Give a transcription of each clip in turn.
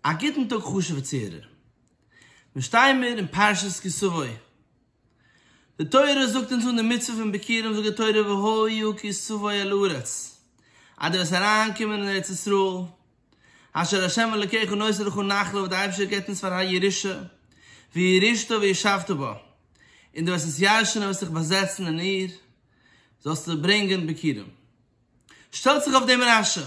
א גוטן טאג חשובע צוהערער. מיר שטייען מיר אין פרשת כי סבא. די תורה זאגט אונז אן די מצוה פון ביקורים זאגט די תורה והיו כי סבא אל הארץ אז דו וועסט אריין קומען אין ארץ ישראל אשר ה' אלקיך נושא לך נחלה וואס די אייבערשטער געבט אונז פאר א ירושה וירשתה וישבת בה און דו וועסט עס ירש'ן און וועסט דיך באזעצן אין איר זאלסטו ברענגען ביקורים שטעלט זיך אויף דעם רשע.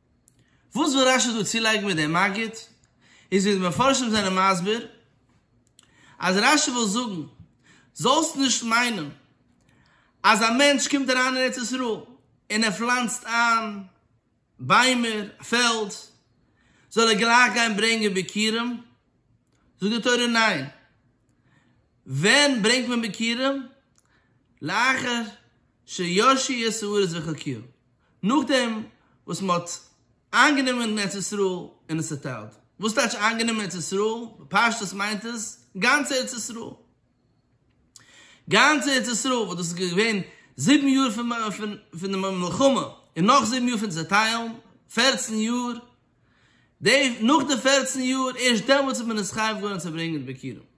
וואס וויל רש י דא צולייגן מיט דעם מגיד, איז ווי די מפרשים זענען מסביר, אז רש י וויל זאגן, זאלסט נישט מיינען אז א מענטש קומט אריין אין ארץ ישראל און ער פלאנצט איין ביימער, א פעלד, זאל ער גלייך גיין ברענגען ביכורים, זאגט די תורה ניין, ווען ברענגט מען ביכורים? לאחר שישי' סעודות וחוקיו, נאכדעם וואס מען האט איינגענומען ארץ ישראל און עס צעטיילט. וואס טייטש איינגענומען ארץ ישראל? בפשטות מיינט עס גאנץ ארץ ישראל. גאנץ ארץ ישראל וואס דאס איז געווען זיבן יאר פון די מלחמה און נאך זיבן יאר פון צעטיילן, פערצן יאר, נאך די פערצן יאר ערשט דעמאלטס איז מען נישט חייב געווארן צו ברענגען ביקירים.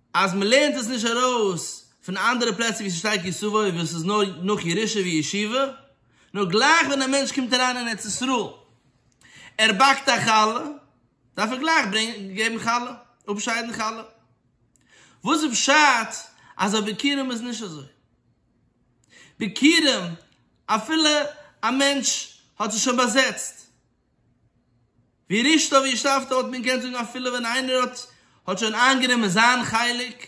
אז מען לערנט עס נישט ארויס פון אנדערע פלעצער ווי ס'שטייט יסובוי וואס איז נאר נאך ירושה וישיבה, נאר גלייך ווען א מענטש קומט אריין אין ארץ ישראל ער באקט א חלה דארף ער גלייך געבן חלה, אפשיידן חלה, וואס איז פשט אז אויף ביכורים איז נישט אזוי? ביכורים אפילו א מענטש האט זיך שוין באזעצט. ווי רישתא ווי שבתא האט מען געקענט זאגן אפילו ווען איינער האט האט שוין איינגענומען זיין חלק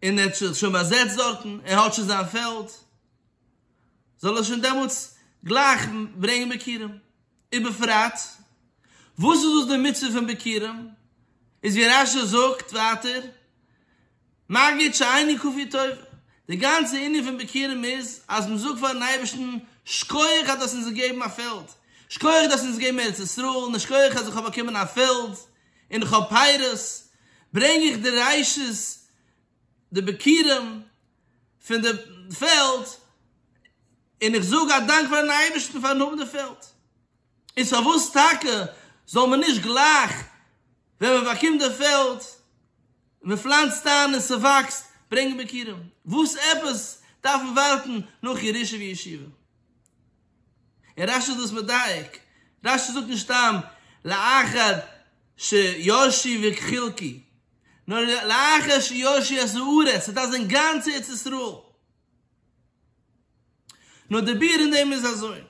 און ער האט זיך שוין באזעצט דארטן ער האט שוין זיין פעלד זאל ער שוין דעמאלטס גלייך ברענגן ביכורים ובפרט וואס איז דאס די מצוה פון ביכורים איז ווי רשי זאגט ווייטער מגיד שעיני כפי טובה, די גאנצע ענין פון ביכורים איז אז מען זאגט פארן אייבערשטן, שכוח אז דו האסט אונז געגעבן א פעלד, שכוח דו האסט אונז געגעבן ארץ ישראל, און שכוח אז איך האב באקומען א פעלד און איך האב פירות, ברענג איך די רשות די ביכורים פון די פעלד, און איך זאג א דאנק פארן אייבערשטן פארן האבן די פעלד. איז פארוואס טאקע זאל מען נישט גלייך ווען מען באקומט די פעלד און מען פלאנצט איין און ס'וואקסט ברענגען ביכורים? וואס עפעס דארף מען ווארטן נאך ירושה וישיבה? און רש י איז דאס מדייק, רש י זאגט נישט סתם לאחר שיושי וכחלקי, נאר לאחר שיושי את הארץ, ס'דארף זיין גאנץ ארץ ישראל. נאר די ביאור אין דעם איז אזוי,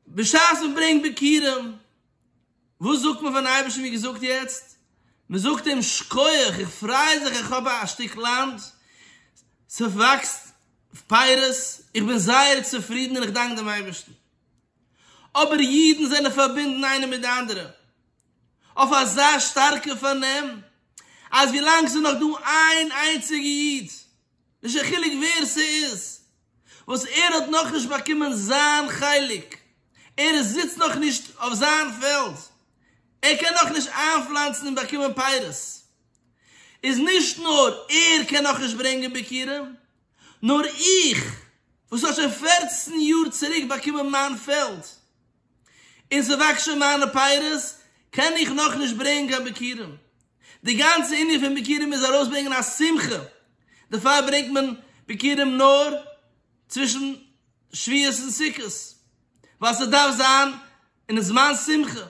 בשעת מען ברענגט ביכורים, וואס זאגט מען פארן אייבערשטן ווי געזאגט יעצט? מען זאגט אים שכוח, איך פריי זיך איך האב א שטיק לאנד, ס'וואקסט פירות, איך בין זייער צופרידן און איך דאנק דעם אייבערשטן. אבער אידן זענען פארבינדן איינער מיט די אנדערע. אויף אזא שטארקע פארנעם אז ווילאנג ס'איז נאך דא איין איינציגע איד, נישט קיין חילוק ווער ס'איז, וואס ער האט נאכנישט באקומען זיין חלק, ער זיצט נאכנישט אויף זיין פעלד, ער קען נאכנישט איינפלאנצן און באקומען פירות, איז נישט נאר ער קען נאכנישט ברענגען ביכורים, נאר איך וואס האט שוין פֿערצן יאר צוריק באקומען מיין פעלד, און ס'וואקסט שוין מיינע פייערס, קען איך נאכנישט ברענגען קיין ביכורים. די גאנצע ענין פון ביכורים איז ארויסברענגען א שמחה, דערפאר ברענגט מען ביכורים נאר צווישן שביעות און סוכות, ווייל ס'דארף זיין אין זמן שמחה.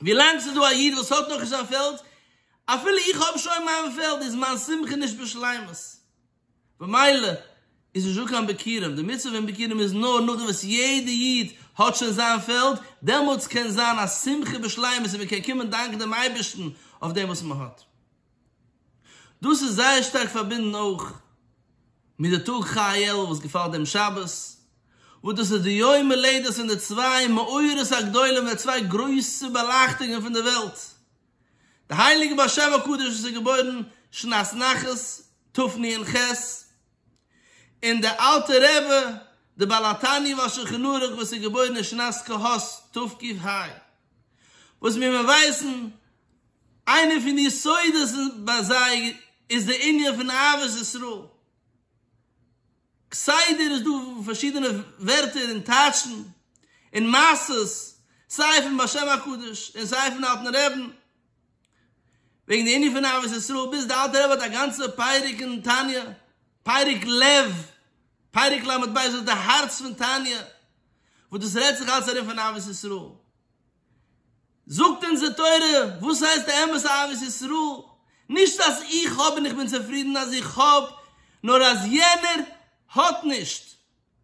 ווילאנג ס'איז דא א איד וואס האט נאכנישט זיין פעלד, אפילו איך האב שוין מיין פעלד, איז מיין שמחה נישט בשלימות. במילא איז נישט דא קיין ביכורים, די מצוה פון ביכורים איז נאר נאכדעם וואס יעדע איד האט שוין זיין פעלד, דעמאלטס קען זיין א שמחה בשלימות און מען קען קומען דאנקען דעם אייבערשטן אויף דעם וואס מען האט. דאס איז זייער שטארק פארבינדן אויך מיט די טאג כ א אלול וואס געפאלט דעם שבת, וואס דאס איז די יום הולדת פון די צוויי מאורות הגדולים, די צוויי גרויסע באלייכטונגען פון די וועלט, די הייליגע בר שבע קדוש וואס איז געבוירן שנת נחת תפני הנ ח, און דער אלטער רעבע דער בעל התניא והשולחן ערוך וואס איז געבוירן אין שנת קה ה תקי ה, וואס ווי מיר ווייסן איינער פון די יסודות ביי זיי איז דער ענין פון אהבת ישראל. כסדר איז דא פארשידענע ווערטער און טייטשן און מעשות סיי פון בשם הקדוש און סיי פון אלטן רעבן וועגן די ענין פון אהבת ישראל ביז די אלטע רבי האט א גאנצע פרק אין תניא פרק לב פרק לב ב וואס איז די הארץ פון תניא וואס דאס רעדט זיך אלץ ארום פון אהבת ישראל. זאגט אונזער תורה, וואס הייסט די אמת'ע אהבת ישראל? נישט אז איך האב און איך בין צופרידן אז איך האב, נאר אז יענער האט נישט,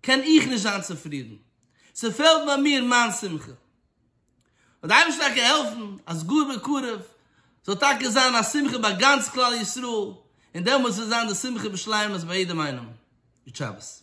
קען איך נישט זיין צופרידן. ס'פעלט ביי מיר מיין שמחה. זאל די אייבערשטער טאקע העלפן אז גאר בקרוב זאל טאקע זיין א שמחה ביי גאנץ כלל ישראל, און דעמאלטס וועט זיין די שמחה בשלימות ביי יעדעם איינעם. גוט שבת.